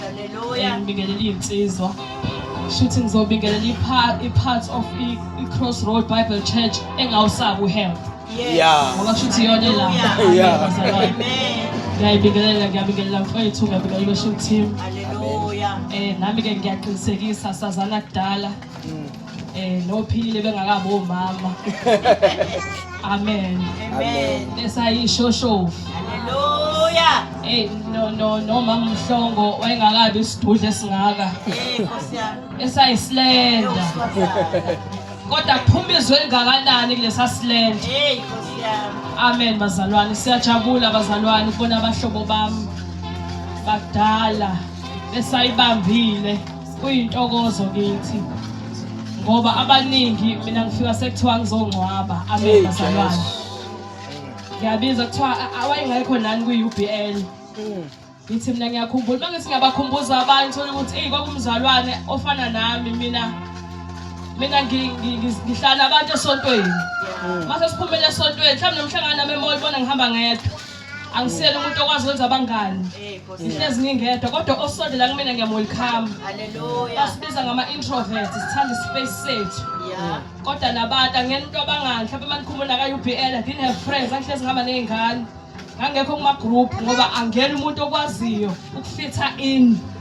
Hallelujah. Ngibingelela iy'nsizwa. Shuthi ngizobingelela i-part of i-Crossroad Bible Church engawusabi uhealth. Yeah. Ngoba shuthi iyona la. Yeah. Amen. Ngiyayibingelela, ngiyabingelela mfowethu, ngiyabingelela i-worship team. Hallelujah. Eh nami ke ngiyaqinisekisa sazana kudala. eh nophilile bengakabi omama amen amen esayishoshovu haleluya eh no no no mama mhlongo wayengakabi isidudle esingaka eh nkosi yami esayisilenda kodwa kuphuma izwe elingakanani kulesa silenda hey nkosi yami amen bazalwane siyajabula bazalwane ukubona abahlobo bami bakudala besayibambile Kuyintokozo kithi ngoba abaningi mina ngifika sekuthiwa ngizongcwaba amen bazalwane. Ngiyabiza kuthiwa awayengekho nani kwi-UBL. Mm. Ngithi mina ngiyakhumbula uma ngithi ngiyabakhumbuza abantu thola ukuthi eyi kwakumzalwane ofana nami mina mina ngihlala abantu esontweni. Mm. Mase siphumele esontweni mhlawumbe nomhlangano nami emoli bona ngihamba ngedwa. angisiyena umuntu okwazi wenza abangani ngihlezi ngingedwa kodwa osondela kumina ngiyamwelcome basibiza ngama-introvert sithanda ispace sethu kodwa nabantu angena into abangani mhlawumbe uma nikhumula ka-u b l i didn't have friends angihlezi ngihamba ney'ngane ngangekho kuma-group ngoba angena umuntu okwaziyo ukufitha in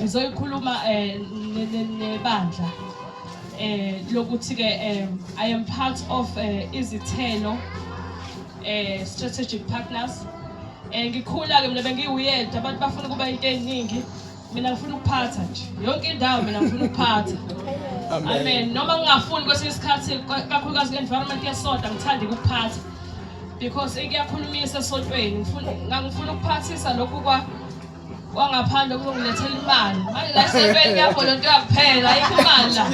ngizoyikhuluma um nebandla um lokuthi-ke um i am part of um izithelo um strategic partners um ngikhula-ke mina bengiwuyeda abantu bafuna ukuba into ey'ningi mina ngifuna ukuphatha nje yonke indawo mina ngifuna ukuphatha amen noma ngingafuni kwesinye isikhathi kakhulukazi kwi-environment yesonta ngithanda ukuphatha because ikuyakhulumisa esontweni ngangifuna ukuphathisa lokhu kwa wangaphandle kuzongilethela imali manje la esentweni kuyavolontiwa kuphela ayikho imali la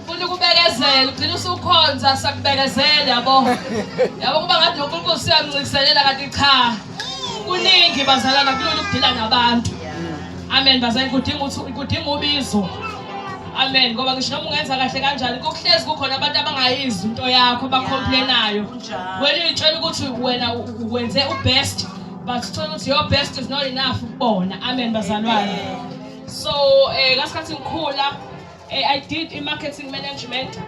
funa ukubekezela ugcina usukhonza sakubekezela yabo yabo kuba ngathi nonkulunkulu siyamncikiselela kanti cha kuningi bazalana kulula ukudila nabantu amen bazali kudinga ukuthi kudinga ubizo amen ngoba ngisho noma ungenza kahle kanjani kuhlezi kukhona abantu abangayizwi into yakho bakhomplinayo wena uyitshela ukuthi wena wenze ubest bathola ukuthi your best is not enough kubona amen bazalwane so eh ngasikhathi ngikhula eh, i did in marketing management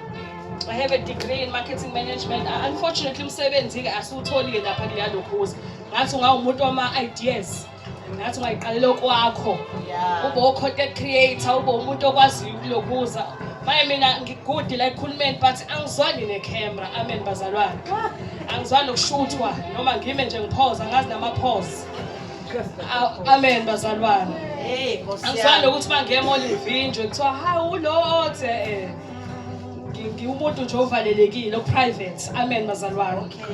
I have a degree in marketing management. Uh, unfortunately umsebenzi ke asiwutholi ke lapha kuleyalokhuza. Ngathi ungawumuntu wama ideas. Ngathi ungayiqalela okwakho. Ube o-content creator, ube umuntu okwaziyo ukulokhuza. Manje mina ngigudi la ekhulumeni but angizwani ne-camera. Amen bazalwane. angizwani nokushuthwa noma ngime nje ngiphoza ngazi namaphozi amen bazalwane angizwani nokuthi bangemoli ngivinjwe kuthiwa hawu ulo othe eh, ngiwumuntu nje ovalelekile oprivate amen bazalwane okay.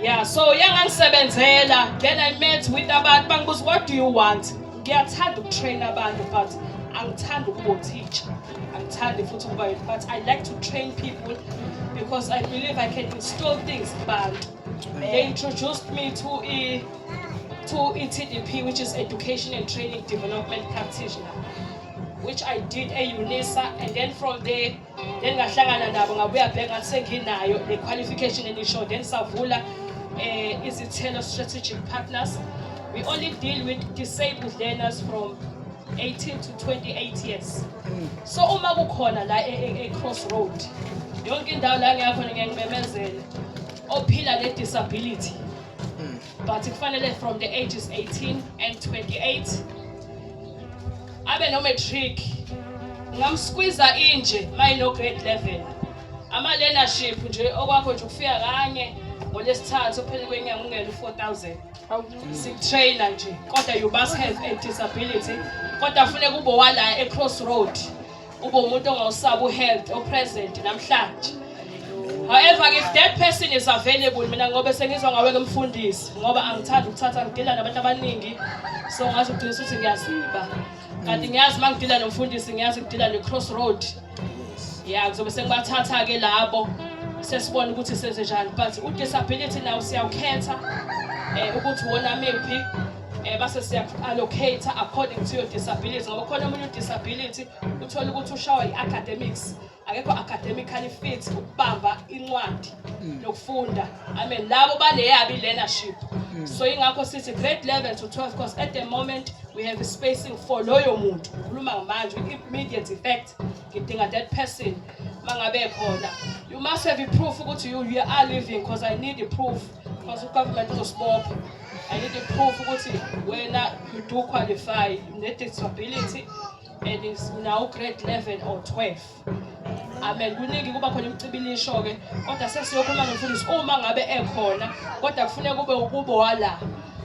yeah so yangangisebenzela then i met with abantu bangibuza what do you want ngiyathanda ukutrain abantu but angithandi ukuba teacher angithandi futhi ukuba yini but i like to train people because i believe i can install things kubantu they introduced me to i to etdp which is education and training development practitioner which i did eunisa and then from there then ngahlangana nabo ngabuya bheka ngathi senginayo le qualification enisho then savula um eh, izithelo strategic partners we only deal with disabled learners from 18 to 28 years so uma kukhona la e, e, e-crossroad yonke indawo la ngiyakhona ngiyangimemezela ophila ne-disability but kufanele from the ages 18 and 28 abe no-matric ngamskwiza inje mayino-grade 11 ama-learnership nje okwakho nje ukufika kanye ngolesithathu pheli kwenyanga ungena u-4000 sikutraina nje kodwa you must have a disability kodwa funeka ube wala e-cross road ube umuntu ongawusabi u-health o-present namhlanje however if that person is available mina ngobe sengizwa ngawe kumfundisi ngoba angithandi ukuthatha ngidila nabantu abaningi so ngazi ugcina ukuthi ngiyaziba kanti ngiyazi uma ngidila nomfundisi ngiyazi ngidila ne-cross road ya kuzobe sekubathatha-ke labo sesibona ukuthi senzenjani but u-disability nawo siyawukhetha um eh, ukuthi wona mephi um eh, base siya-allocate according to your disability ngoba khona omunye u-disability uthole ukuthi ushawa i-academics akekho academically fit ukubamba incwadi mm. nokufunda Amen. Labo baneyabi leadership. Mm. So ingakho sithi grade 11 to 12 because at the moment we have a spacing for loyo muntu. Ngikhuluma ngamanje immediate effect. Ngidinga that person mangabe khona. You must have a proof ukuthi you, you are living because I need a proof because the government uzosibopha. I need a proof ukuthi wena you do qualify ne disability and it's now grade 11 or 12. amen kuningi kuba khona imcibilisho-ke kodwa sesiyokhuluma nomfundisi uma ngabe ekhona kodwa kufuneka kube ukubo wala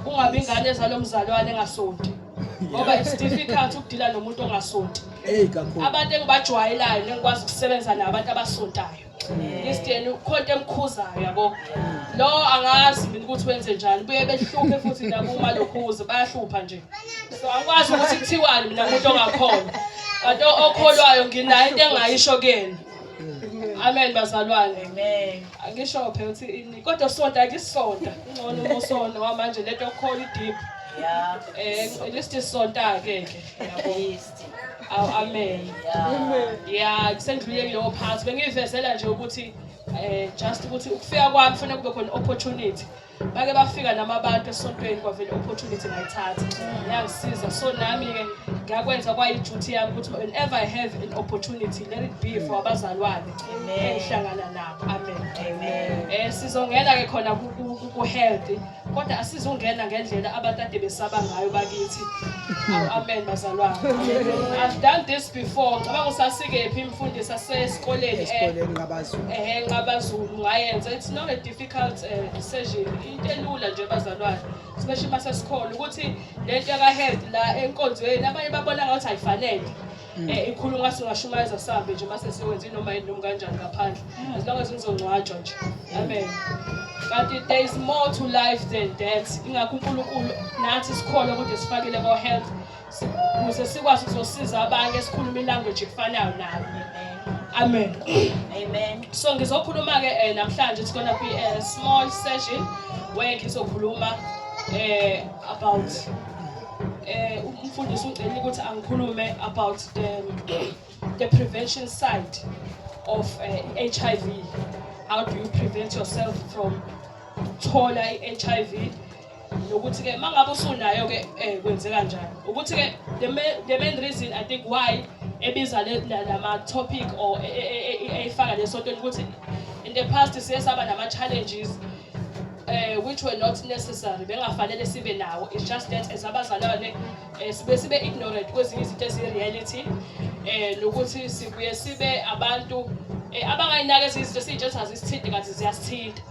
kungabi ingane ezalo mzalwane engasonti ngoba it's difficult ukudila nomuntu ongasonti abantu engibajwayelayo nengikwazi ukusebenza nabo abantu abasontayo ngisteni ukhonto emkhuzayo yabo lo angazi mina ukuthi wenze njani buye behluphe futhi nabo uma lokhuze bayahlupha nje so angikwazi ukuthi kuthiwani mina muntu ongakhona kanti okholwayo nginayo into engayisho kuyena amen bazalwane angisho phela ukuthi ini kodwa sonta akisonta ngcono umosona wamanje lento yokukhona idip Yeah. Eh listi sonta ke ke. Listi. Aw amen. Yeah. Yeah, kusendlule kuleyo part. Bengivezela nje ukuthi eh just ukuthi ukufika kwami kufanele kube khona opportunity. bake bafika nami abantu esontweni kwavele opportunity ngayithatha yangisiza so nami-ke ngakwenza kwayi-duty yami ukuthi whenever i have an opportunity let it be for abazalwane engihlangana nabo amen um sizongena-ke khona ku-healthy kodwa asizungena ngendlela abantu ade besaba ngayo bakithi amen bazalwane i've done this before ngicabanga usasikephi imfundisi asesikoleni um ehe nqabazulu ngayenza it's not a difficult difficult uh, decision into elula nje bazalwane especially uma sesikhona ukuthi lento yakahead la enkonzweni abanye babona ngathi ayifanele um ikhuluma singashumayeza sambe nje uma sesiwenze inoma yini noma kanjani ngaphandle mm. as long as ngizongcwatshwa nje amen kanti there is more to life than that ingakho unkulunkulu nathi sikhona ukuthi sifakele ko-health ukuze sikwazi ukuzosiza abanye sikhulume ilanguage efanayo nabo amen amen so ngizokhuluma ke eh, namhlanje it's gonna be a small session where ngizokhuluma eh about eh umfundisi ungcela ukuthi angikhulume about the the prevention side of uh, eh, HIV how do you prevent yourself from thola i-HIV nokuthi-ke uma ngabe usunayo-ke um kwenzeka njani ukuthi-ke the main reason i think why ebiza lama-topic or e, e, e, eyifaka lesontweni ukuthi in the past siye saba nama-challenges uh, which were not necessary bengafanele sibe nawo it's just that as abazalwane eh, sibe sibe ignorant kwezinye izinto eziyi-reality eh nokuthi sibuye sibe abantu eh, abangayinaki ezinye izinto esiyitshe ukuthi azisithinti kanti ziyasithinta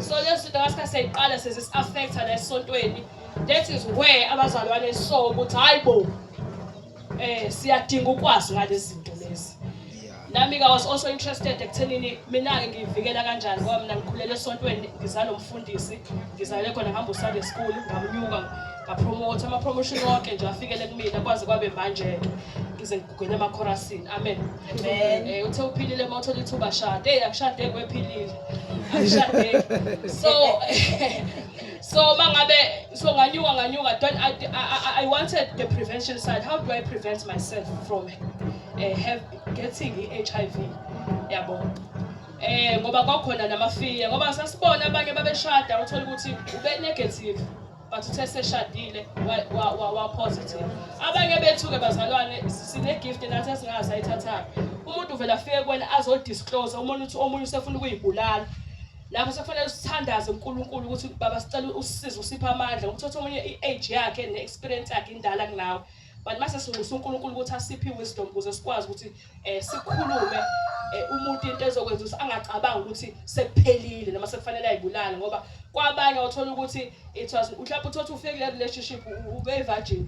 so lezo zinto ngasika siyayiqala sezisi-affecta la esontweni that is where abazalwane so ukuthi hhayi bo um siyadinga ukwazi ngalezi zinto lezi nami ka was also interested ekuthenini mina-ke ngiyivikela kanjani ngoba mina ngikhulele esontweni ngizalo mfundisi ngizale khona ngihamba usunday school ngamnyuka ngapromotha ama-promotion wonke nje afikele kumina kwaze kwabe manje-ke ngize ngigugwele emakhorasini amen um uthe uphilile uma uthola ithuba shade eyi akushade kwephilile akushade so so uma ngabe so nganyuka nganyuka don't I, I, I wanted the prevention side how do i prevent myself from eh, have getting i-HIV yabo eh ngoba kwakhona namafiya ngoba sasibona abanye babeshada uthola ukuthi ube negative but uthe seshadile wa wa wa positive abanye bethu ke bazalwane sine gift nathi esingazi ayithathayo umuntu uvela afike kwena azo disclose umuntu uthi omunye usefuna ukuyibulala lapho sekufanele sithandaze uNkulunkulu ukuthi baba sicela usisize usiphe amandla ukuthi omunye i-age yakhe ne-experience yakhe indala kunawe but mase sinxusa uNkulunkulu ukuthi asiphe iwisdom ukuze sikwazi ukuthi eh sikhulume eh, umuntu into ezokwenza ukuthi angacabanga ukuthi sekuphelile noma sekufanele ayibulale ngoba kwabanye othola ukuthi it was mhlawumbe uthothi ufike kule relationship ube virgin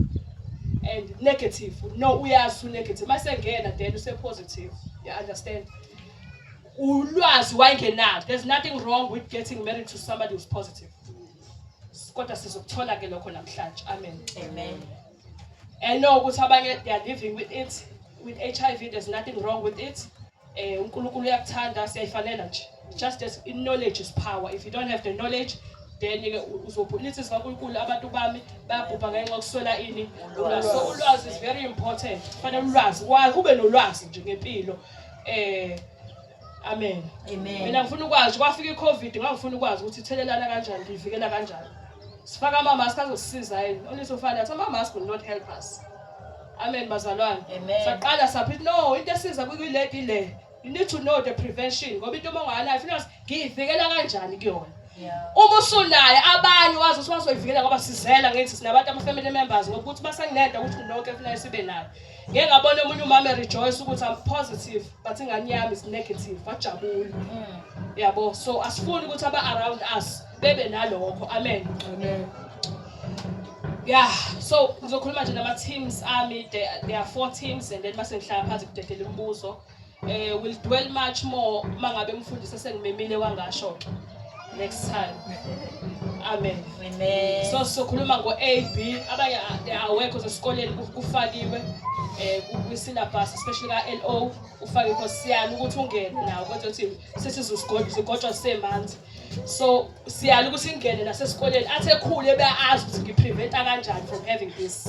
and negative no uyazi unegative mase ngena then use positive you understand ulwazi wayengenalo there's nothing wrong with getting married to somebody who's positive kodwa sizokuthola ke lokho namhlanje amen amen and no ukuthi abanye they are living with it with HIV there's nothing wrong with it eh uNkulunkulu uyakuthanda siyayifanela nje just as in knowledge is power if you don't have the knowledge then ke uzobhulisa sikaNkulunkulu abantu bami bayabhubha ngenxa yokuswela ini ulwazi so ulwazi is very important kufanele ulwazi wazi ube nolwazi nje ngempilo eh Amen. Amen. Mina ngifuna ukwazi kwafika iCovid ngangifuna ukwazi ukuthi ithelelana kanjani ngivikela kanjani. Sifaka ama mask azosisiza yini? Only so far that ama mask will not help us. Amen bazalwane. Saqala saphi no into esiza kuyiledi le. You need to know the prevention ngoba into uma unganayo funa ngiyivikela kanjani kuyona. Uma usunaye abanye wazi ukuthi wazoyivikela ngoba sizela ngithi sinabantu ama family members ngokuthi basengineda ukuthi nonke kufanele sibe nayo. ngeke ngabona omunye umama rejoice ukuthi i'm positive but ingane yami is negative wajabula mm. yabo so asifuni ukuthi aba around us bebe nalokho amen amen yeah so ngizokhuluma nje nama teams ami there are four teams and then mase ngihlala phansi kudedela imibuzo eh will dwell much more mangabe umfundisi esengimemile wangasho ke next time amen amen so sokhuluma ngo AB abanye awekho sesikoleni kufakiwe eh kwi syllabus especially ka LO ufake inkosiyana ukuthi ungene nawo kodwa uthi sesizosigojwa sigojwa semanzi so siyala ukuthi ingene nasesikoleni athi ekhule beyazi ukuthi ngipreventa kanjani from having this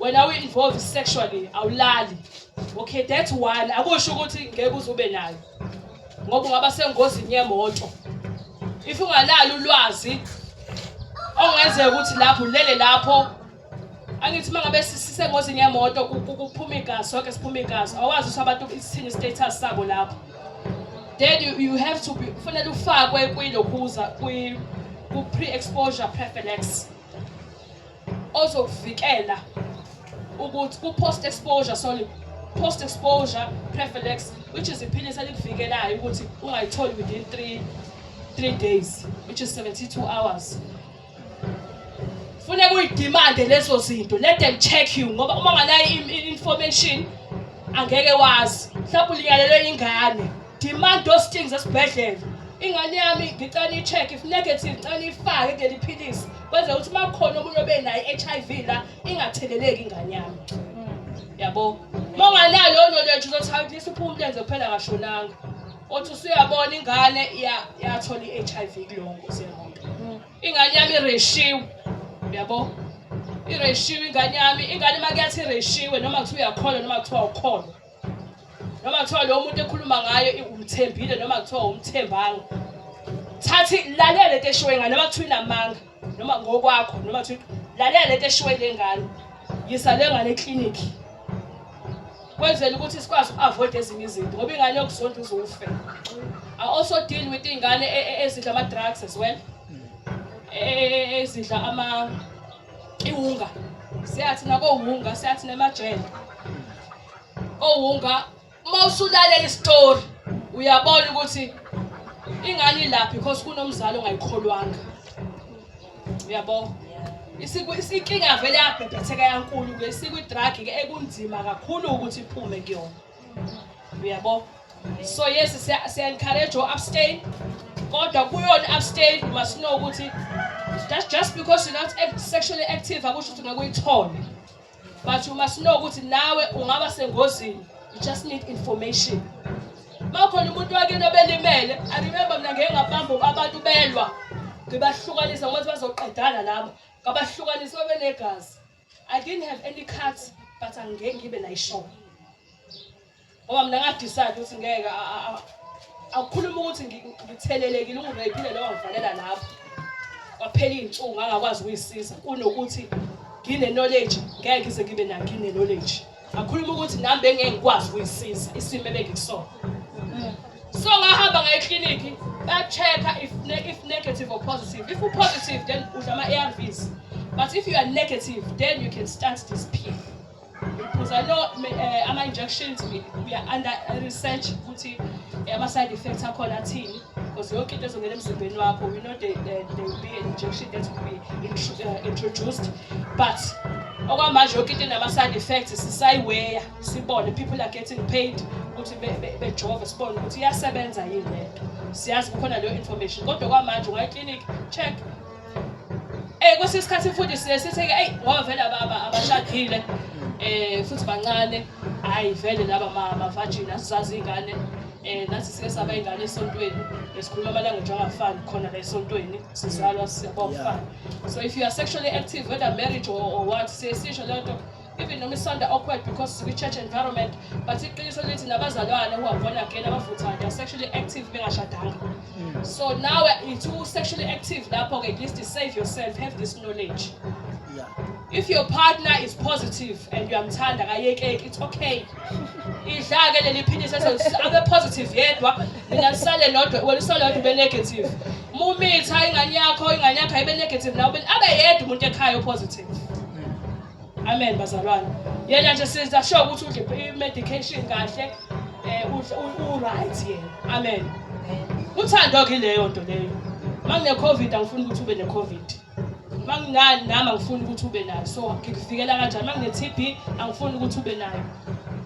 wena uyi-involve sexually awulali okay that's one akusho ukuthi ngeke uzube nayo ngoba ungaba sengozini yemoto if ungalali ulwazi ongenzeka ukuthi lapho ulele lapho angithi uma ngabe sisengozini yemoto kuphuma igazi sonke siphuma igazi awazi ukuthi abantu isithini status sabo lapho then you, you have to be kufanele ufakwe kwilokhuza kwi-pre-exposure prophylaxis ozokuvikela ukuthi ku-post exposure sorry post exposure preflex which is iphilisi elikuvikelayo ukuthi ungayitholi within 3 3 days which is 72 hours funeka uyidimande lezo zinto let them check you ngoba uma ngalayo information angeke wazi mhlawumbe uliyalelwe ingane demand those things esibhedlela ingane yami ngicela i-check if negative ngicela ifake kuleli philisi Kwenzeka ukuthi uma kukhona omunye obe nayo i-HIV la ingatheleleki ingane yami. Yabo. Uma unganayo leyo knowledge uzothi hayi kulisa uphuma umlenze kuphela ngashonanga. Othi usuyabona ingane ya- yathola i-HIV kulongo siyabona. Ingane yami ireshiwe. Yabo. Ireshiwe ingane yami, ingane uma kuyathi ireshiwe noma kuthiwa uyakholwa noma kuthiwa awukholwa. noma kuthiwa lo muntu ekhuluma ngayo umthembile noma kuthiwa umthembanga thathi lalela lento eshiwe ngane noma kuthiwa inamanga noma ngokwakho noma kuthiwa lalela lento eshiwe le ngane yisa le ngane eklinikhi kwenzela ukuthi sikwazi uku-avoid ezinye izinto ngoba ingane yokuzonda uzofe i also deal with iy'ngane e, e, ezidla ama-drugs as well e, ezidla ama iwunga siyathi nakowunga siyathi nemajele kowunga uma usulalela isitori uyabona ukuthi ingane ilapha because kunomzali ongayikholwanga uyabo isikinga vele yabhebhetheka yankulu ke sikwi-drug ke ekunzima kakhulu ukuthi iphume kuyona uyabo so yes siya encourage u abstain kodwa kuyona abstain you must know ukuthi that's just because you're not sexually active akusho ukuthi ngakuyithole but you must know ukuthi nawe ungaba sengozini you just need information makhona umuntu wakini obelimele i remember mina ngeke ngabamba abantu belwa ngibahlukanisa ngokuthi bazoqedana labo ngabahlukanisa babenegazi I didn't have any cards but angeke ngibe nayishoko ngoba mina ngadecide ukuthi ngeke akukhuluma ukuthi ngithelelekile ungireyphile lowo ngivalela lapho kwaphela iy'nsuku ngangakwazi ukuyisiza kunokuthi ngine-knowledge ngeke ngize ngibe nayo ngine-knowledge ngakhuluma ukuthi nami bengeke ngikwazi ukuyisiza isimo ebengikusona so ngahamba ngaye eklinikhi ba-check-a if, ne if negative or positive if u-positive then udla ama-arvs but if you are negative then you can start this pill because i know uh, ama-injections we, we are under research ukuthi eh, ama-side effects akhona athini because yonke into ezongena emzimbeni wakho you know they, they, they will be an injection that will be int uh, introduced but okwamanje yonke into enama-side effects sisayiweya sibone people are getting paid ukuthi bejove sibone ukuthi iyasebenza yini le nto siyazi kukhona leyo information kodwa kwamanje ungayeklinikhi check Eh kwesinye isikhathi futhi siye sitheke eyi ngoba vele ababa abashadile eh futhi bancane hayi vele laba mama vagina sizazi ingane eh nathi sike saba ingane esontweni esikhuluma amalanga nje angafani khona la esontweni sizalwa siyabofana so if you are sexually active whether marriage or, or what siyesisho lento even noma isonto awkward because sikwi-church environment but iqiniso lithi nabazalwane who are born again abavuthayo they are sexually active bengashadanga mm. so now it's who sexually active lapho-ke at least save yourself have this knowledge yeah. if your partner is positive and uyamthanda kayekeki it's okay idla-ke leli philisi abe positive yedwa mina lisale lodwa wena usale lodwa ube negative uma umitha ingane yakho ingane yakho ayibe negative nawe abe yedwa umuntu ekhaya opositive Amen bazalwane. Yena nje siza sure ukuthi udle i medication kahle eh u right yena. Amen. Uthando ke leyo nto leyo. Mangine covid angifuni ukuthi ube ne covid. Mangingani nami angifuni ukuthi ube nayo. So ngikufikela kanjani? Mangine TB angifuni ukuthi ube nayo.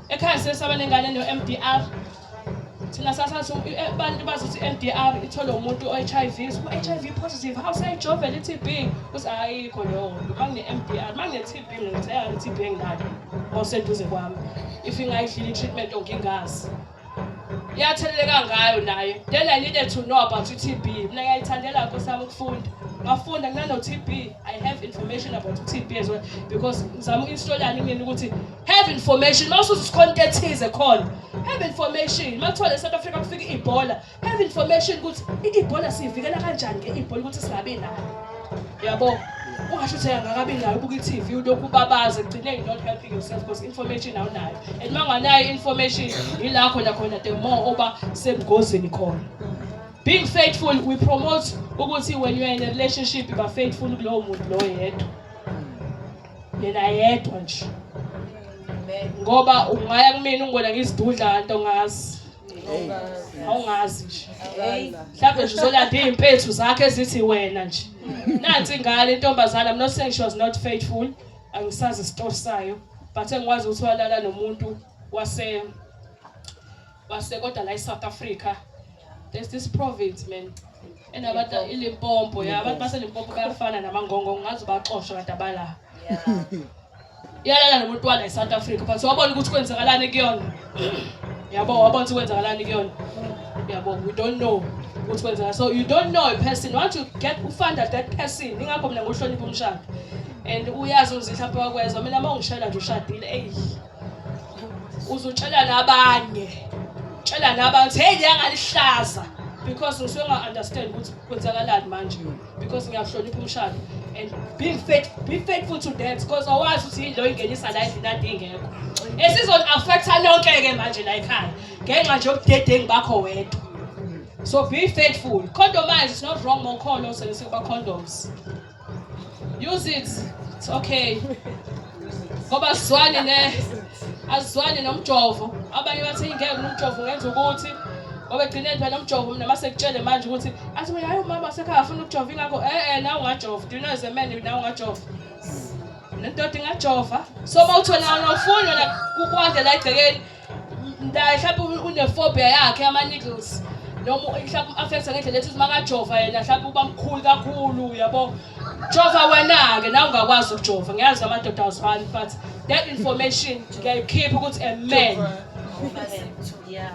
Ekhaya sesaba nengane no MDR thina sasazi abantu bazi ukuthi i-MDR itholwe umuntu o-HIV u-HIV positive hawu seyijovela i-TB uthi ayikho leyo nto mangine-MDR mangine-TB ngitheyana i-TB enginayo oseduze kwami if ingayidlile i-treatment ongingazi iyatheleleka ngayo naye then i needed to know about i-TB mina ngiyayithandela nkosi yami ukufunda ngafunda nginano-TB i have information about i-TB as well because ngizama uku-installani mina ukuthi have information mawusuza isikhonto ethize khona have information makuthiwa le South Africa kufika ibhola have information ukuthi ibhola siyivikela kanjani ke ibhola ukuthi singabi nayo yabo ungasho ukuthi angakabi nayo ubuka i-TV ulokhu ubabaza ekugcineni not helping yourself because information awunayo and uma unganayo information yila khona khona the more oba sebugozini khona being faithful we promote ukuthi when you are in a relationship you are faithful kulowo muntu lowo yedwa yena yedwa nje ngoba ungaya kumina ungibona ngizidudla kanti ongazi awungazi nje mhlawumbe nje uzolanda iy'mpethu zakhe ezithi wena nje nansi ingane intombazane i'm not saying she was not faithful angisazi isitori sayo but engikwazi ukuthi walala nomuntu wase wase kodwa la e-south africa there's this province man and abantu iLimpopo ya abantu baseLimpopo bayafana namangongo ngazi ubaxosha kanti abala iyalala nomuntu wala eSouth Africa but wabona ukuthi kwenzakalani kuyona yabo wabona ukuthi kwenzakalani kuyona yabo we don't know ukuthi kwenzeka so you don't know a person once you get ufunda that person ingakho mina ngohlonipha umshado and uyazi uzihla phewakwezwa mina uma ungishayela nje ushadile eyi uzutshela nabanye tshela nabantu hey ngiyangalihlaza because ngisuke nga understand ukuthi kwenzakalani manje because ngiyahlonipha umshado and be faith be faithful to that because awazi ukuthi yini lo ingenisa la endlini ade ingekho esizon affecta lonke ke manje la ekhaya ngenxa nje yobudedengu bakho wedwa so be faithful condomize is not wrong mokholo sele sekuba condoms Use it. It's okay. Ngoba asizwani ne asizwani nomjovo. Abanye bathe ingeke umjovo ngenza ukuthi ngoba egcineni phela umjovo mina mase kutshele manje ukuthi athi mina hayi umama sekhaya afuna ukujova ingakho eh eh nawe ungajova. Do you know as a man nawe ungajova? Nendoda ingajova. So mawuthola awufuni wena kukwande la egcekeni mhlawumbe unefobia yakhe ama-needles noma mhlawumbe u-affectha ngendlela ethi makajova yena mhlawumbe uba mkhulu kakhulu yabo jova wena-ke nawe ungakwazi ukujova ngiyazi amadoda awuzibani but that information ngiyayikhipha ukuthi a man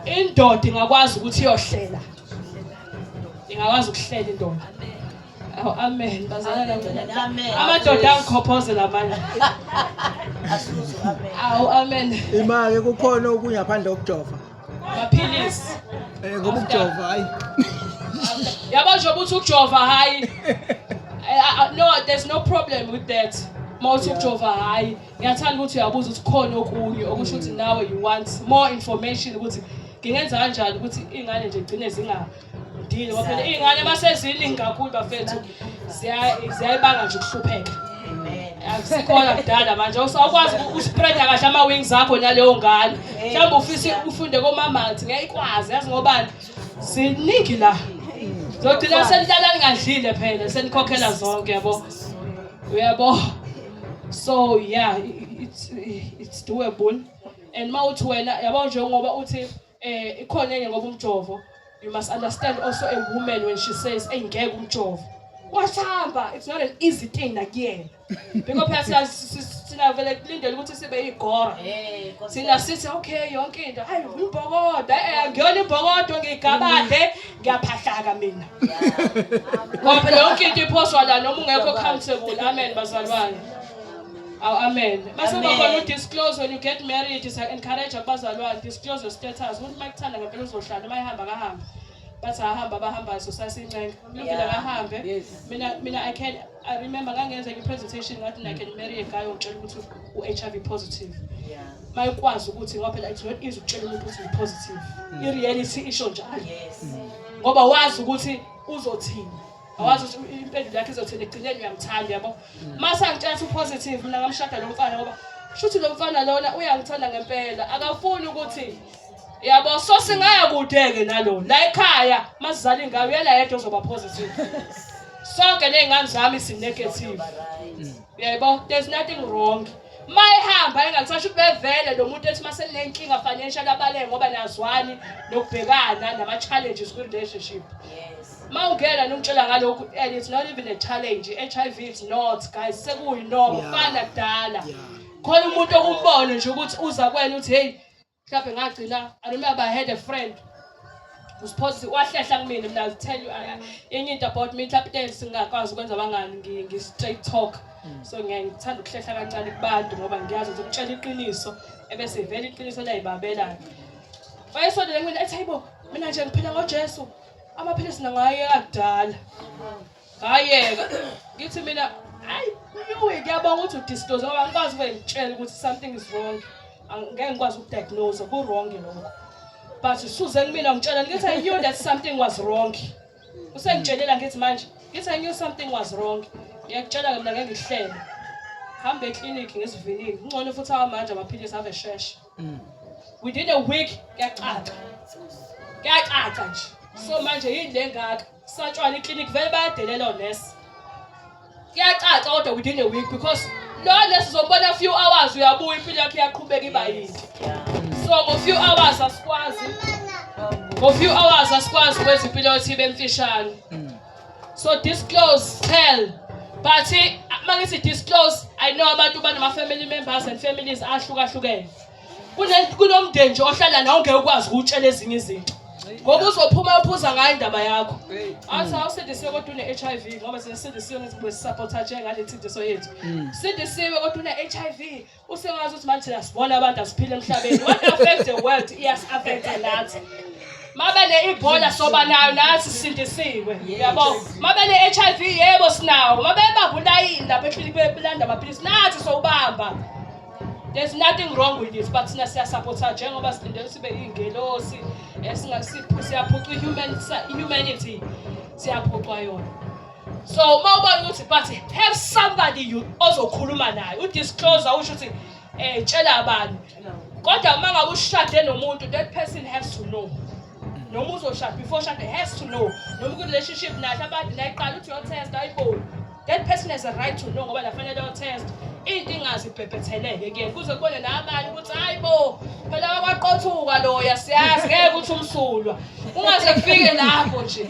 indoda ingakwazi ukuthi iyohlela ingakwazi ukuhlela indoda Aw amen bazalwane kanjani. Amen. Amadoda angikhophozela manje. Asuzu amen. Aw amen. Imake kukhona okunye ngaphandle kokujova. Maphilisi. Eh ngoba ukujova hayi. Yabo nje ukuthi ukujova hayi. Eh, ah, ah, No there's no problem with that. Mawuthi ukujova hayi. Ngiyathanda ukuthi uyabuza ukuthi khona okunye okusho ukuthi nawe you want more information ukuthi ngingenza kanjani ukuthi ingane nje igcine zinga Dile waphela ingane baseziningi kakhulu bafethu ziyayibanga nje ukuhlupheka. Akusikhona kudala manje usawukwazi uspread kahle ama wings akho naleyo ngane. Mhlawumbe ufisa ufunde komama athi ngiyayikwazi yazi ngobani. Siningi la. Zogcina senilala ningadlile phela senikhokhela zonke yabo. Uyabo? So yeah, it's it's doable. And mawuthi wena yabo njengoba uthi Eh ikhona enye ngoba umjovo you must understand also a woman when she says engeke umjovo. Wasihamba it's not an easy thing nakuyena. Because phela sina vele kulindele ukuthi sibe igora. Eh sina sithi okay yonke into hayi umbhokodo eh ngiyona imbhokodo ngigabade ngiyaphahlaka mina. Ngoba yonke into iphoswa la noma ungekho comfortable amen bazalwane. Aw amen. Base Amen. bakhona udisclose when you get married is encourage abazalwane disclose your status. Umuntu makuthanda ngempela uzohlala uma ehamba kahambe. Bathi ahamba bahamba so sasincenga. Lungile Yeah. kahambe. Yes. Mina mina I can I remember ngangenza i presentation ngathi I can marry a guy ongitshela ukuthi u HIV positive. Yeah. Mayikwazi ukuthi ngoba phela it's not easy ukutshela umuntu ukuthi u positive. I reality isho njalo. Yes. Ngoba wazi ukuthi uzothini. awazi ukuthi impendulo yakhe izothini ekugcineni uyamthanda yabo mm. mase angitshela ukuthi upositive mina ngamshada lo mfana ngoba shuthi lo mfana lona uyangithanda ngempela akafuni ukuthi yabo so singaya kude-ke nalo la ekhaya masizala ingayo uyela yedwa ozoba positive sonke ney'ngane zami sinegative mm. yebo there's nothing wrong mayihamba engakusasho ubevele lo muntu ethi masenenkinga financial abaleke ngoba nazwani nokubhekana nama-challenges kwi-relationship yes. Uma ungena nokutshela ngalokhu and it's not even a challenge. HIV is not guys sekuyinoma Yeah. kufana kudala. Yeah. Khona umuntu okumbona nje ukuthi uza kwena uthi hey mhlawumbe ngagcina I remember I had a friend was positive wahlehla kumina mina I'll tell you I- I- enye into about me mhlawumbe into singakwazi ukwenza abangani ngi ngi straight talk. So ngiyaye ngithanda ukuhlehla kancane kubantu ngoba ngiyazi ukuthi ukutshela iqiniso ebese vele iqiniso liyayibabela. Wayesondele kumina ethi hayibo mina nje ngiphila ngoJesu. amaphilisi nangayeka kudala ngayeka ngithi mina hayi uyi kuyabonga ukuthi udisclose ngoba ngikwazi kube ngitshela ukuthi something is wrong ngeke ngikwazi ukudiagnose ku wrong lokho but suze kumina ngitshela ngithi i knew that something was wrong usengitshelela ngithi manje ngithi i knew something was wrong ngiyakutshela ke mina ngeke ngihlele hambe eclinic ngesivinini kungcono futhi awamanje amaphilisi ave shesha mm. within a week kuyacaca kuyacaca nje so manje yini le ngaka satshwana iclinic vele bayadelela onesi kuyacaca kodwa within a week because lo nesi uzombona few hours uyabuya impilo yakhe iyaqhubeka iba yinde so ngo few hours asikwazi ngo few hours asikwazi ukwenza impilo yethu ibe mfishane mm. so disclose tell but uma ngithi disclose i know abantu banama-family members and families ahlukahlukene kunomndeni nje ohlala nawo ngeke ukwazi ukutshela ezinye izinto ngoba uzophuma uphuza ngayo indaba yakho athi awusindisiwe kodwa une-h i v ngoba sesindisiwe ngezinto esisapotha njengale nsindiso yethu sindisiwe kodwa une-h i v Usewazi ukuthi manje thina sibona abantu asiphile emhlabeni. What affects the world iyas affect nathi. Mabe ne ibhola soba nayo nathi sindisiwe. Yabo. Mabe ne HIV yebo sinawo. Mabe babulayi lapha ekhili belanda amaphilisi nathi sowubamba. There's nothing wrong with this but sina siya supporta njengoba silindele sibe ingelosi esingasiphu siyaphuca human humanity siyaphucwa yona. so uma ubona ukuthi but have somebody you ozokhuluma naye udisclose usho ukuthi um tshela abantu kodwa uma ngabe ushade nomuntu that person has to know noma uzoshada before shade has to know noma ku-relationship nathi abantu nayiqala uthi uyotest ayiboni that person has a right to know ngoba lafanele otest into ingazibhebhetheleke kuyena kuze kubone nabanye ukuthi hayi bo phela wakwaqothuka loya siyazi ngeke ukuthi umsulwa ungaze kufike lapho nje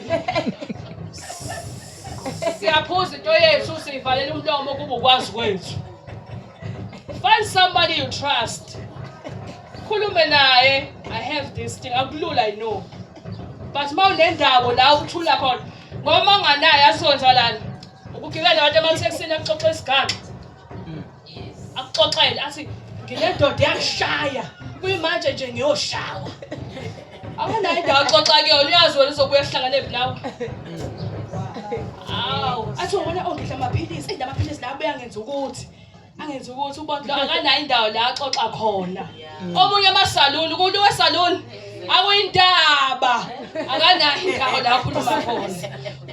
siyaphuza into yethu siyivalela umlomo kuba ukwazi kwethu find somebody you trust khulume naye i have this thing akulula i know but uma unendawo la ukuthula khona ngoba unganaye asonjalani ukugibela abantu emathekisini akuxoxa isigaxa akuxoxele athi ngilendoda yashaya kuyimanje nje ngiyoshawa awunayo indawo axoxa kuyona uyazi wena uzobuya sihlangane phi nawe awu athi ubona ongidla amaphilisi eyi lamaphilisi lawo abuye angenza ukuthi angenza ukuthi ubondlo akanayo indawo la axoxa khona omunye amasaluni kulo wesaluni akuyindaba akanayo indawo la akhuluma khona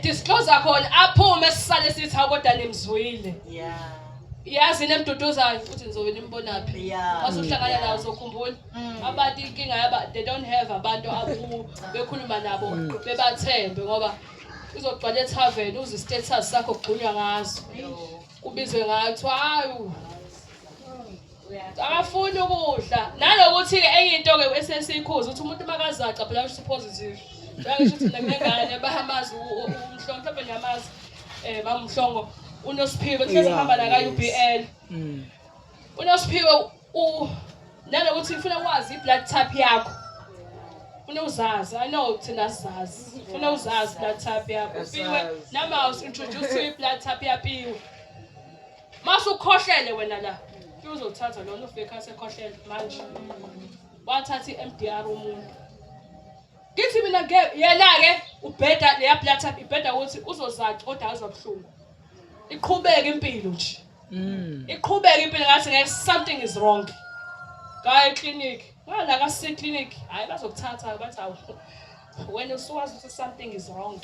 disclose khona aphume sisale sithi akodwa nimzwile yeah yazi nemduduzayo uthi ngizobe nimbonaphi mase uhlangana nawo uzokhumbula mm. abantu inkinga yaba they don't have abantu abu bekhuluma nabo mm. bebathembe ngoba uzogcwala ethaven uze istatus sakho kugqunywa ngazo kubizwe ngayo kuthiwa hayi akafuni ukudla nanokuthi-ke enye into-ke esesikhuza ukuthi umuntu makazaca phela usho positive njengasho ukuthi mina kunengane bahamazi umhlongo mhlawumbe niyamazi um eh, mamhlongo unosiphiwe kuhlezi kuhamba naka-u b l mm. unosiphiwe nanokuthi ngifuna ukwazi i-blood type yakho funa uzazi i know thina sizazi funa uzazi i-blood type yakho upiwe namaus introduce i-blood type yapiwe Mase ukhohlele wena la. Uzothatha lona ufika sekhohlele manje. Wathatha iMDR umuntu. Ngithi mina ke yena ke ubheda leya blood type ibheda ukuthi uzozaca kodwa azobuhlungu. Iqhubeke impilo nje. Mm. Iqhubeke impilo ngathi ngeke something is wrong. Kayi clinic. Well, like I said, clinic, I was of Tata, but I, when you saw us, something is wrong.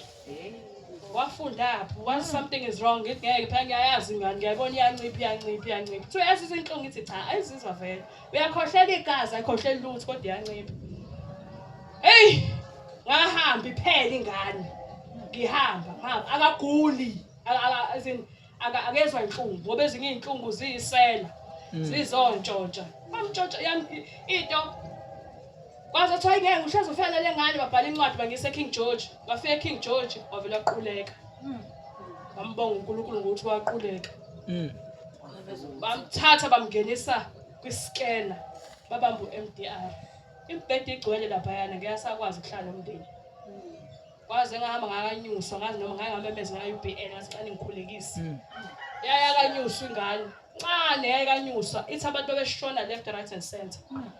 wafunda apho once something is wrong ngithi ngeke phela ngiyayazi ngani ngiyayibona iyancipha iyancipha iyancipha kuthiwa yazi izinhlungu ngithi cha ayizizwa vele uyakhohlela igazi ayikhohleli lutho kodwa iyancipha eyi ngahamba iphele ingane ngihamba ngihamba akaguli Aka- akezwa inhlungu ngoba ezinye iy'nhlungu ziyisela Mm. zizontshotsha bamtshotsha yam i- into kwaze kuthiwa ingeke uhlezi ufela le ngane babhala incwadi bangise king george bafika king george wavele waquleka bambonga unkulunkulu ngokuthi waquleka Mm. bamthatha bamngenisa kwiskena babamba u-mdr imibhede igcwele laphayana ngeke asakwazi ukuhlala nomndeni Kwaze ngahamba ngakanyuswa ngazi noma ngake ngamemeza ngayo UBN ngathi xa ningikhulekise. Mm. Yaya kanyuswa ingane. Ncane yaya kanyuswa ithi abantu bebeshona left right and center. Mm.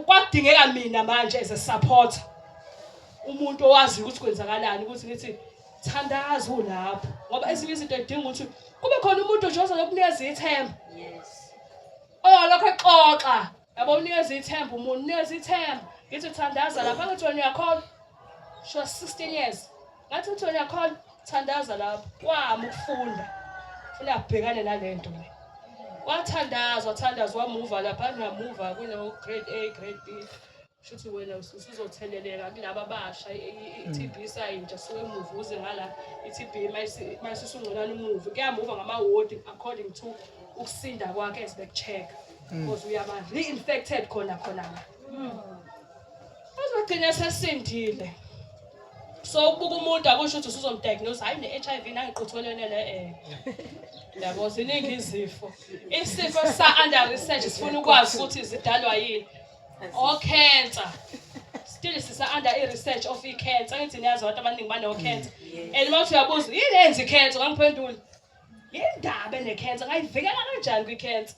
Kwadingeka mina manje as a supporter. Umuntu owazi ukuthi kwenzakalani ukuthi ngithi thandaza ulapho ngoba ezinye izinto edinga ukuthi kube khona umuntu ojoza lokunikeza ithemba. Yes. Oh lokho xoxa Yabo unikeza ithemba umuntu, unikeza ithemba. Ngithi thandaza lapha ngithi wena uyakholwa. Sho 16 years. Ngathi ngithi wena uyakholwa, thandaza lapha. Kwami ukufunda. Funa abhekane nalento le. Wathandaza, wathandaza wamuva lapha, ngiyamuva kuno grade A, grade B. Shuthi wena usuzotheleleka kulaba abasha i-TB mm. isayintsha suke emuva uze ngala i-TB mayisisungconana umuvi kuyamuva ngamawodi according to ukusinda kwakhe as bekucheck mm. because uyaba re-infected khona khona la mm. uzogcina sesindile so ukubuka umuntu akusho ukuthi usuzomdiagnose hayi ne-HIV nangiquthelene le eh yabo ziningi izifo isifo sa under research sifuna ukwazi ukuthi zidalwa yini okhensa still sisa under i research of i cancer ngithi niyazi abantu abaningi bane cancer mm, and mawuthi uyabuza yini enzi cancer ngangiphendula yindaba ne cancer ngayivikela kanjani kwi cancer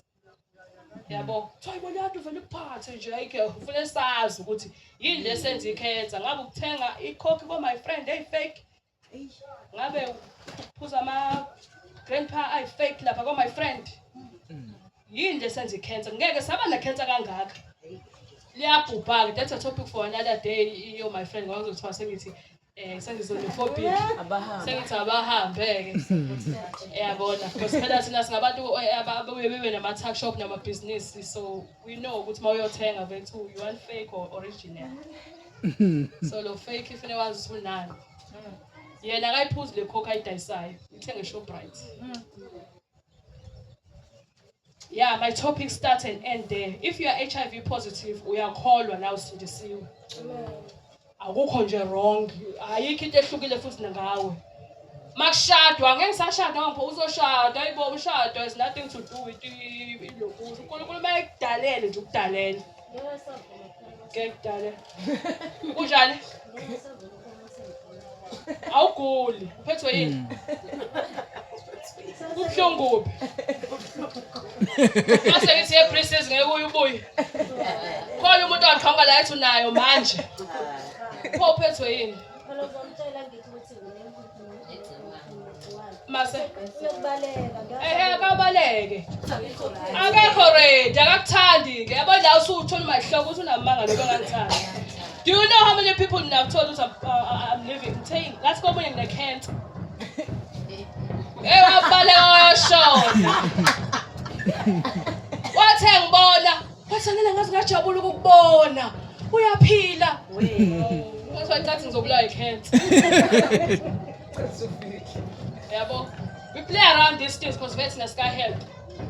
yabo kuthiwa ibona abantu vele kuphathe nje ayike ufuna sazi ukuthi yini lesenza i cancer ngabe ukuthenga ikhokhi ko my friend hey fake ngabe phuza ama grandpa i fake lapha ko my friend yini nje senza icancer ngeke saba na cancer kangaka liyabhubha ke that's a topic for another day yo my friend ngawuzothiwa sengithi eh sengizonophobic sengithi abahambe ke yabona because phela sina singabantu eh, ababuye bebe nama tuck shop nama business so we know ukuthi mawuyothenga bethu you want fake or original so lo fake ifune wazi sunani yena akayiphuzi le coke ayidayisayo ithenge shoprite yeah my topic start and end there if you are hiv positive uyakholwa na usindisiwe akukho nje wrong ayikho into ehlukile futhi nangawe makushadwa ngeke sashada ngapha uzoshada ayibo ushada is nothing to do with ilokuthi unkulunkulu uma ekudalele nje ukudalele kekudala kunjani awuguli uphethwe yini kubuhlungu kuphi mase ngithi yeprincess ngeke uye ubuye khona umuntu waqhamuka la ethi unayo manje pho uphethwe yini Phela uzomtshela ngithi ukuthi nginembuzi. mase ehe akabaleke akekho ready akakuthandi ke yabo la usuthola umahloko uthi unamanga lokho angangithandi do you know how many people now told us I'm, uh, uh, I'm living saying that's go in the can't eh wabaleka washona wathe ngibona Wathanela ngathi ngajabula ukukubona. Uyaphila. Wathi wancathi ngizobulawa ikhensa. Yabo. We play around these things because vets nesika help.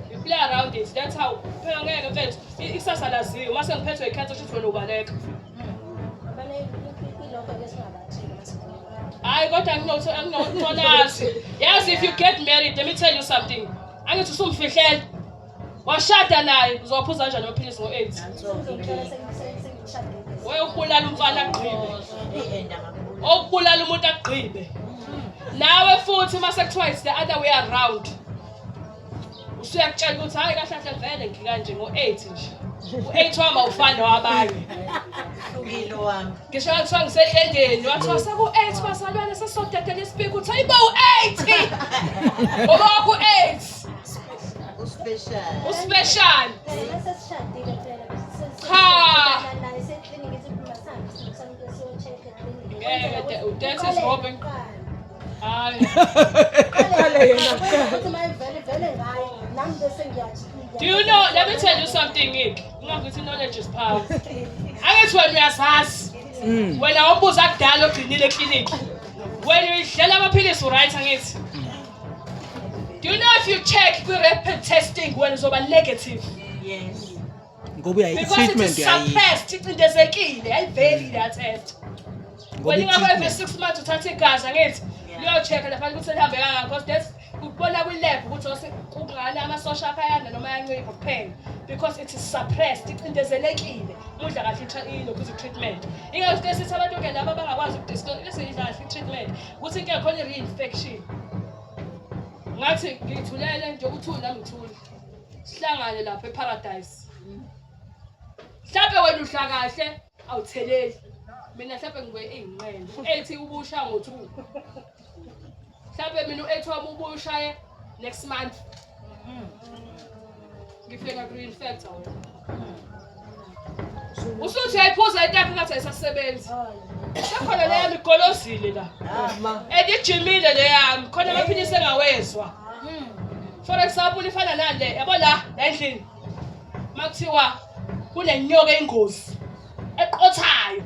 We play around it. That's how. Phela ngeke mfethu. I- Ikusasa laziwa. Mase ngiphethwe ikhensa shuthi wena ubaleka. Hayi kodwa anginothi anginonazi. Yazi if you get married, let me tell you something. Angithi usumfihlela. washada naye uzowaphuza kanjani amaphilisi ngo-aids wewe ukubulala umfana agqibe okubulala umuntu agqibe nawe futhi uma sekuthiwa is the other way around usuyakutshela ukuthi hhayi kahle kahle vele ngikanje ngo-eight nje u-eight wami awufani nowabanye hlukile wami ngisho kwathiwa ngisedlendeni wathiwa seku-eight bazalwane sesodedela isipiki uthi hayibo u-eight ngoba waku-eight Uspecial. Uspecial. Cha. Ngeke udense sihobe. Hayi. Qale yena kuqala. Do you know? Let me tell you something, Nick. Ungakuthi knowledge is power. Angithi wena uyasazi. Mm. Wena ombuza kudala ogcinile eklinikhi. Wena uyidlela amaphilisi uright angithi? Do you know if you check the rapid testing when it's over negative? Yes. Ngoba uyayi Because it treatment is yayi. suppressed, icindezekile, ayiveli le test. Ngoba Wena ingakho every i-treatment. 6 months uthatha igazi angithi Yeah. liyochecka lapha ukuthi lihambe kangaka because that's ukubona kwi-lab ukuthi ose- kungani amasosha akho ayanda noma ayancipha kuphela because it is suppressed icindezelekile udla kahle i-tra- ilokhu izi-treatment ingakho sike sithi abantu-ke laba abangakwazi ukudisclose kahle i-treatment ukuthi into yakhona i-reinfection ngathi ngithulela nje ukuthula nami ngithule sihlangane lapha eparadise mhlawumbe wena udla kahle awutheleli mina mhlawumbe ngibe eyinqele ethi ubusha ngo-two mhlawumbe mina u-eight wami ubushaye Next month. Mm. Ngifika green factor wena. Mm. Usuthi ayiphuza itapi ngathi ayisasebenzi. Sekhona le yami igolozile la. Ama. Ah, Edijimile le yami khona baphinde sengawezwa. Mm. For example ifana nale yabo la la endlini. Makuthiwa kunenyoka engozi. eqothayo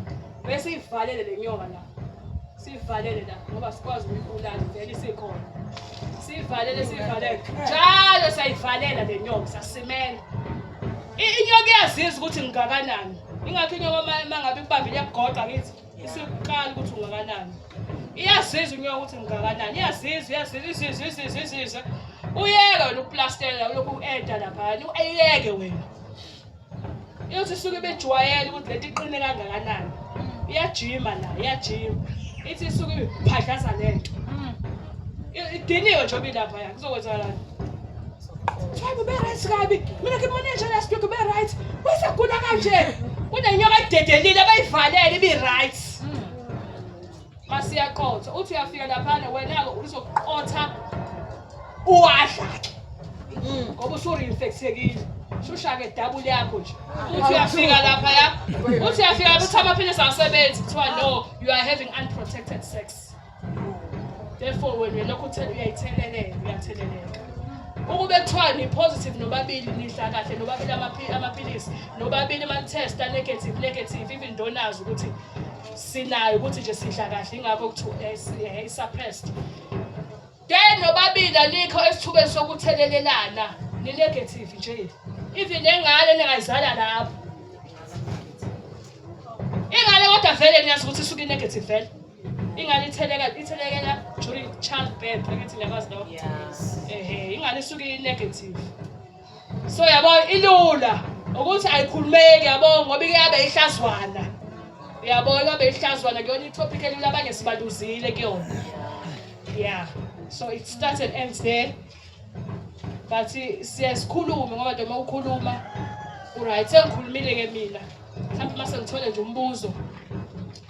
bese ivalele le nyoka la sivalele la ngoba sikwazi ukuyibulala vele isikhona sivalele sivalele njalo siyayivalela le nyoka sasimela inyoka iyaziza ukuthi ngingakanani ingakho inyoka uma ngabe ikubambile iyakugoqa ngithi isiqala ukuthi ungakanani iyaziza inyoka ukuthi ngingakanani iyaziza iyaziza iziza iziza iziza uyeke wena ukuplastela ulokhu u-eda laphayana uyeke wena iyothi isuke ibejwayele ukuthi lento iqine kangakanani iyajima la iyajima ithi isuke iphadlaza lento idiniwe nje obilapha ya kuzokwenzakalani Try to be right, Gabi. Mina ke manje nje last week be right. Wesa kula kanje. Kunenyoka ededelile abayivalele ibi right. masiyaqotha uthi uyafika laphana wena-ke uzoqotha uwadla-ke mm. ngoba usurinfekthekile shushake dabule yakho nje uthi uyafika lapha ya uthi uyafika uthi amaphilisi awasebenzi kuthiwa no you are having unprotected sex therefore wena lokho uthela uyayitheleleka uyatheleleka ukube kuthiwa ni-positive nobabili nidla kahle nobabili amaphilisi nobabili ama-test a-negative negative even donazi ukuthi sinayo ukuthi nje sidla kahle ingakho kuthiwa eh, eh, i-suppressed then nobabili alikho esithubeni sokuthelelelana ni-negative nje even engane ningayizala lapho ingane kodwa vele niyazi ukuthi isuke i-negative vele ingane itheleka ithelekela during child birth angithi niyakwazi lokho ehe ingane isuke i-negative so yabo ilula ukuthi ayikhulumeki yabo ngoba ike yabe ihlazwana yabo yabe ihlazwana kuyona itopic elula abanye sibaluzile kuyona yeah so it starts and ends there but siye sikhulume ngoba nje uma ukhuluma uright sengikhulumile-ke mina mhlawumbe uma sengithole nje umbuzo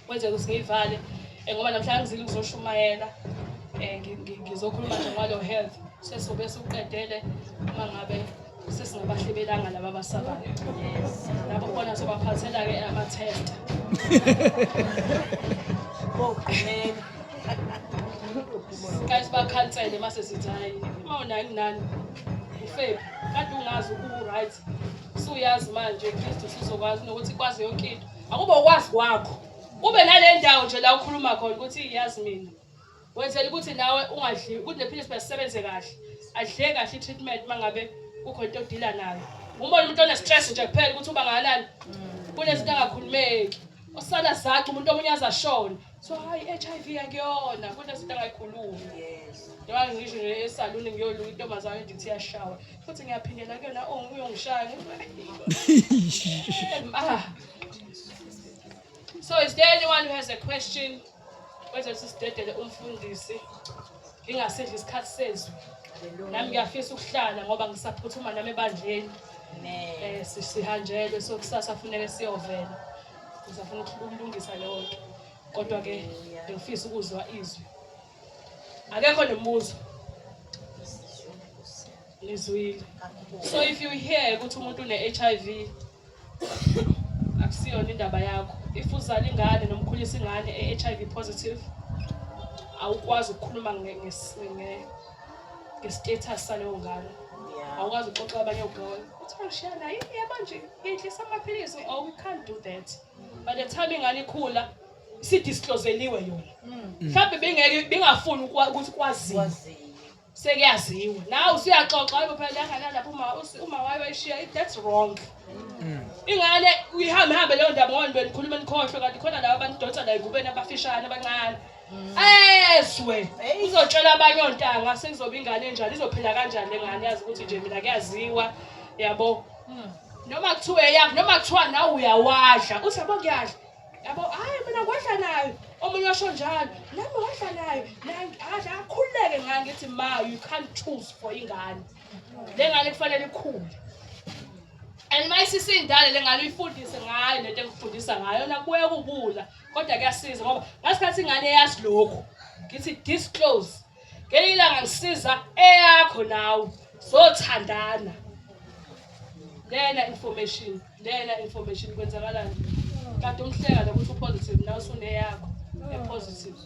kwenzeka ukuthi ngiyivale Eh, ngoba namhlanje ngizile ngizoshumayela eh, ngizokhuluma nje ngalo health sesobe suqedele uma ngabe sesingabahlebelanga laba abasabayo labo bona sobaphathela-ke ama-test guys bakhansele uma sesithi hayi uma unayo kunani ufebi kade ungazi uku-right suyazi manje kristu sizokwazi nokuthi kwazi yonke into akuba ukwazi kwakho Kube nale ndawo nje la ukhuluma khona ukuthi yazi mina wenzela ukuthi nawe ungadli ukuthi nephilisi basisebenze kahle adle kahle i-treatment uma ngabe kukho into odila nayo umbona umuntu one-stress nje kuphela ukuthi uba ngakanani kunezinto angakhulumeki osala zaci umuntu omunye azashona so hayi i-HIV akuyona kunezinto angayikhulumi njengoba ngisho nje esaluni ngiyoluka intombazane nje ukuthi iyashawa futhi ngiyaphindela kuyona uyongishaya ah So is there anyone who has a question? Whether it's sidedele umfundisi ngingasidla isikhathi sezwi. Nami ngiyafisa ukuhlala ngoba ngisaphuthuma nami ebandleni. Eh sihanjelwe so kusasa funeke siyovela. Ngisafuna ukulungisa leyo nto. Kodwa ke ngifisa ukuzwa izwi. Akekho nemibuzo. Ngizwile. So if you hear ukuthi umuntu une HIV akusiyona indaba yakho if uzala ingane noma ukhulisa ingane e-hiv positive awukwazi ukukhuluma nge-status saleyo ngane awukwazi uxoxa abanye ogawona kuthiwa ngishiya naye yebo nje ngiyidlisa amaphilisi oh we can't do that by the time ingane ikhula sidiscloseliwe yona hmm. mhlawumbe bengeke bengafuni ukuthi kwaziwe sekuyaziwa nawe usuyaxoxa hayibo phela lengane lapho uma uma wayo wayishiya that's wrong mm. ingane uyihambe hambe leyo ndaba ngoba nibe nikhuluma nikhohlwe kanti khona laba abantu donsa la ekubeni abafishane abancane mm. ezwe uzotshela abanye ontanga sekuzoba ingane enjani izophila kanjani lengane yazi ukuthi nje mina kuyaziwa yabo mm. noma kuthiwa eyakho noma kuthiwa nawe uyawadla uthi yabo kuyadla yabo hayi mina ngiwedla nayo omunye washo njalo nami ngiwedla nayo adla akhululeke ngani ngithi ma you can't choose for ingane le ngane kufanele ikhule and uma isisindale le ngane uyifundise ngayo lento engifundisa ngayo yona kubuye kubula kodwa kuyasiza ngoba ngasikhathi ingane yazi lokhu ngithi disclose ngenye ilanga ngisiza eyakho nawe zothandana lena information lena information kwenzakalani kanti umhleka lokuthi upositive nawe usuneyakho epositive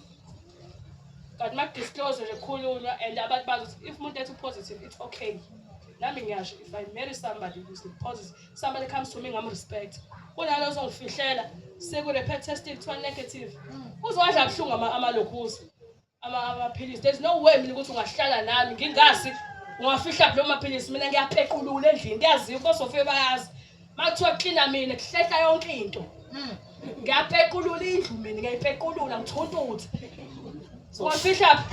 kanti makudisclose nje khulunywa and abantu bazi if umuntu ethi upositive it's okay nami ngiyasho if i marry somebody who's positive somebody comes to me ngam respect kunalo ozongifihlela sekurepet testing kuthiwa negative uzowadla buhlungu amalokhuza amaphilisi there's no way mina ukuthi ungahlala nami ngingazi ungafihla kulo maphilisi mina ngiyaphequlula endlini kuyaziwa kosofike bayazi uma kuthiwa kuklina mina kuhlehla yonke into hmm. ngiyaphequlula indlu mina ngiyayiphequlula ngithuntuthe ungafihla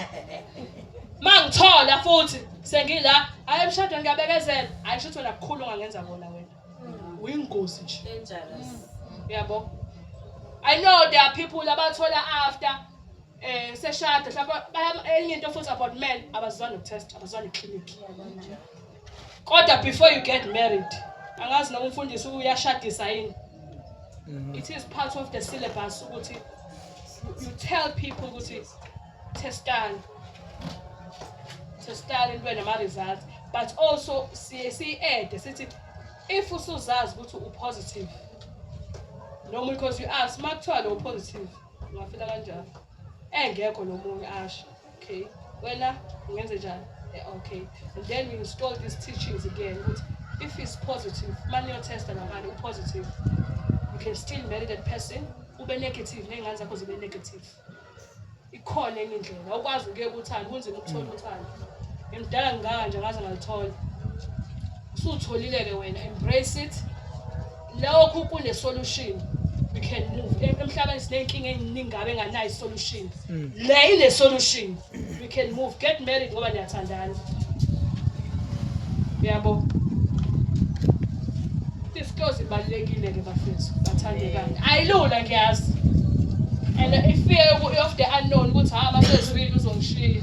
ma ngithola futhi sengila ayi emshadweni ngiyabekezela ayi shuthi wena kukhulu ongangenza kona wena hmm. uyingozi nje uyabo i know there are people abathola after eh seshada mhlawumbe enye into futhi about men abazizwani nokutest abazizwani clinic kodwa before you get married angazi noma umfundisi uyashadisa yini mm-hmm. it is part of the syllabus ukuthi you tell people ukuthi testani testani into nama-results but also siye siyi-ede sithi if usuzazi ukuthi upositive normally because you ask uma kuthiwa lo positive ungafika kanjani engekho nomunye asho okay wena ungenze njani eh, okay and then you install these teachings again ukuthi if is positive mani yotesta namani upositive you can still marry that person ube negative ney'ngane zakho zibe negative ikhona enye indlela awukwazi ukuye kuthanda kunzima ukuthola mm. uthando ngimdala ngingaka nje ngaze ngalithola usutholile-ke wena embrace it Lokhu kune solution. We can move. Emhlabeni sinenkinga eziningi ngabe nganayo solution. Mm. Le ine solution. We can move. Get married ngoba niyathandana. Yabo. Disclose ibalekile ke bafethu. Bathandekani. Ayilula ngiyazi. And if fear of the unknown ukuthi ha masezwile uzongishiya.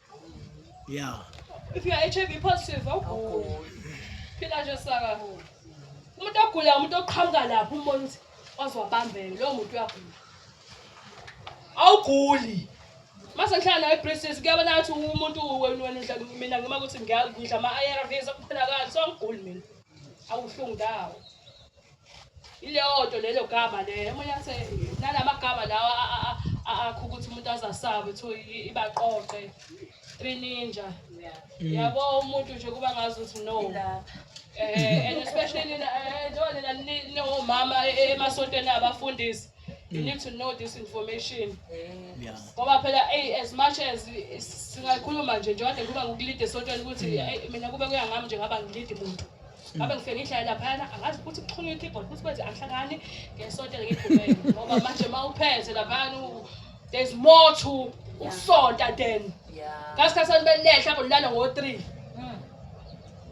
Yeah. If you are HIV positive, awuguli. Phila nje saka. Umuntu ogula umuntu oqhamuka lapho umbona ukuthi ozobambeka lowo muntu uyagula. Awuguli. Mase ngihlala nawe eBritis kuyabona ukuthi umuntu wenu wena udla mina ngima ukuthi ngiyadla ama-ARVs akuphela kanjani so angiguli mina. Awuhlungu ndawo. ileyo nto lelo gama leyo omunye athe nanamagama lawa akho ukuthi umuntu azasabe kuthiwa ibaqoqe three ninja mm. yabo umuntu nje kuba ngazi ukuthi no eh and especially njengoba eh, nina ninomama e, e, emasontweni abafundisi you need to know this information Yeah. ngoba phela eyi as much as i- singayikhuluma nje njengoba kade kuba ngokulide esontweni ukuthi eyi, mina kube kuya ngami nje ngaba ngilidi muntu ngabe ngifike ngihlale laphayana angazi ukuthi kuxhunywe i-keyboard ukuthi kwenze angihlangani ngesontele ngigqumele ngoba manje uma uphethe laphayana u- there's more to ukusonta then Yeah. ngasikhathi sanibelehla kolala ngo-three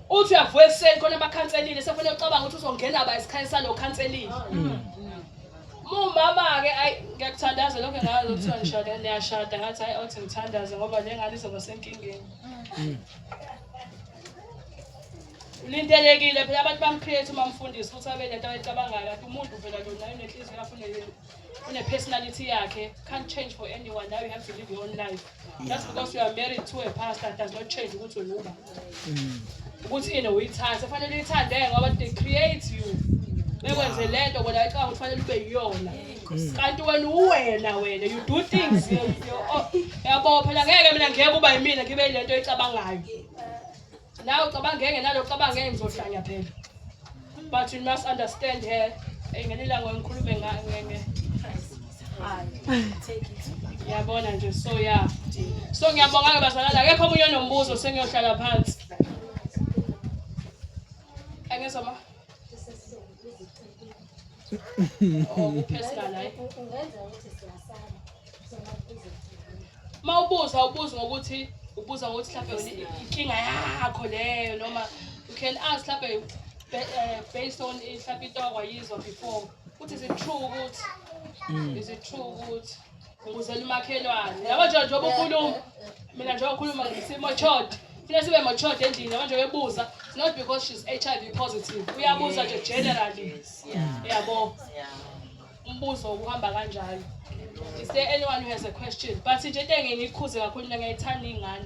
Uthi uyavuka ekuseni khona bakhanselile sefanele ucabanga ukuthi uzongena ba esikhayeni salo khanselile. Mm. Mumama-ke ayi ngiyakuthandaza lokho ngazi ukuthi ngishada niyashada ngathi hayi othi ngithandaze ngoba le ngane izoba senkingeni. Mm. Ulindelekile phela abantu bamcreate uma mfundisi ukuthi abe nento ayicabangayo kanti umuntu phela lona unenhliziyo afune une personality yakhe can't change for anyone now you have to live your own life just because you are married to a pastor does not change ukuthi unuba mm. ukuthi yena uyithanda fanele uyithande ngoba they create you bekwenze le nto bona icanga ukuthi fanele ube yiyona mm. kanti wena uwena wena you do things yabo phela ngeke mina ngeke uba yimina ngibe le nto eyicabangayo Nawe ucabanga engenalo ucabanga ngeke ngizohlanya phela. But you must understand her. Engenela ngoyikhulume ngeke. Take it. Yabona nje so yeah. So ngiyabonga ke bazalana akekho omunye onombuzo sengiyohlala phansi. Angizwa ma. Oh, personal life. Ungenza ukuthi siyasala. uma ubuza ubuza ngokuthi ubuza ngokuthi mhlawumbe inkinga yakho leyo noma you can ask mhlawumbe eh, based on mhlawumbe into akwayizwa before ukuthi is it true ukuthi mm. is it true ukuthi ngikuzela umakhelwane yabo nje njengoba ukhuluma mina njengoba ukhuluma ngisimo chode funa sibe matured endlini manje uyebuza it's not because she's hiv positive uyabuza nje generally yabo umbuzo ukuhamba kanjalo is there anyone who has a question but nje into engeke ngikhuze kakhulu mina ngiyayithanda ingane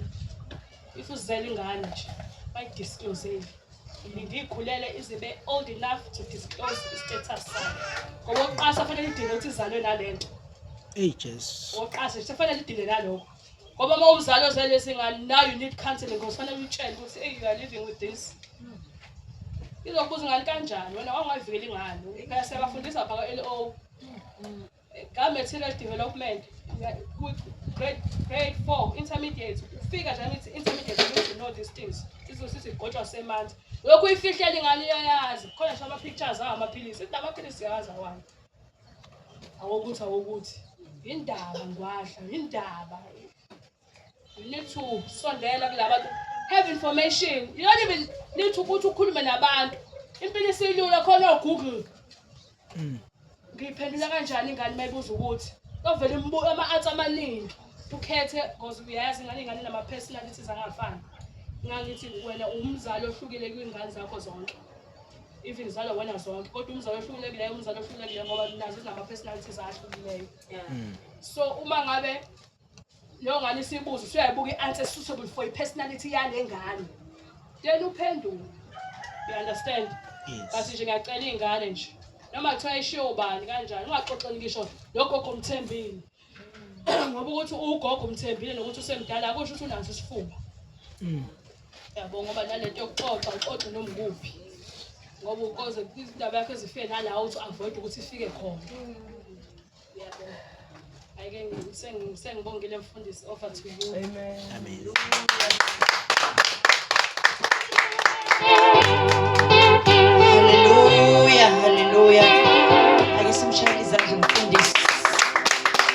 if uzela ingane nje bayidisclosele ilinde ikhulele izibe old enough to disclose i-status sayo ngoba uqasa fanele idinga ukuthi izalwe nalento eyi jesu oqasa fanele idinge naloko ngoba uma umzali ozele singane now you need counseling because fanele uyitshele ukuthi hey you are living with this izokubuza ingane kanjani wena wangayivikeli ingane phela siyabafundisa bhaka l o ka-material development grade grade four intermediate ufika nje ngithi intermediate you need to know these things izosiza igotshwa semanzi lokhu uyifihlela ingane iyayazi khona nje ama-pictures awo amaphilisi ithi namaphilisi yazi awani awokuthi awokuthi yindaba ngwahla yindaba you need to sondela kulabantu have information you don't even need to ukuthi ukhulume nabantu impilo isilula khona ogoogle hmm. ngiyiphendula kanjani ingane mayibuza ukuthi ovele umbuka ama-arts amaningi ukhethe because uyayazi ingane ingane nama-personalities angafani ngangithi wena umzali ohlukile kwiy'ngane zakho zonke even ngizalwa wena zonke kodwa umzali ohlukelekileyo umzali ohlukelekileyo ngoba nazo zinama-personalities ahlukileyo hmm. so uma ngabe leyo ngane isibuzo usuyayibuka i-answer suitable for i-personality yale ngane then uphendule you understand but nje ngiyacela iy'ngane nje noma kuthiwa ishiye ubani kanjani ungaxoxeli ngisho logogo mthembile ngoba ukuthi ugogo umthembile nokuthi usemdala akusho ukuthi unaso isifuba mm. yabo ngoba nalento yokuxoxa uxoxe noma ukuphi ngoba ukoze indaba yakho ezifike nalawo ukuthi avoid ukuthi ifike khona yabo ayike sengibongile mfundisi over to you amen amen haleluya haleluya ake simshayele izandla umfundisi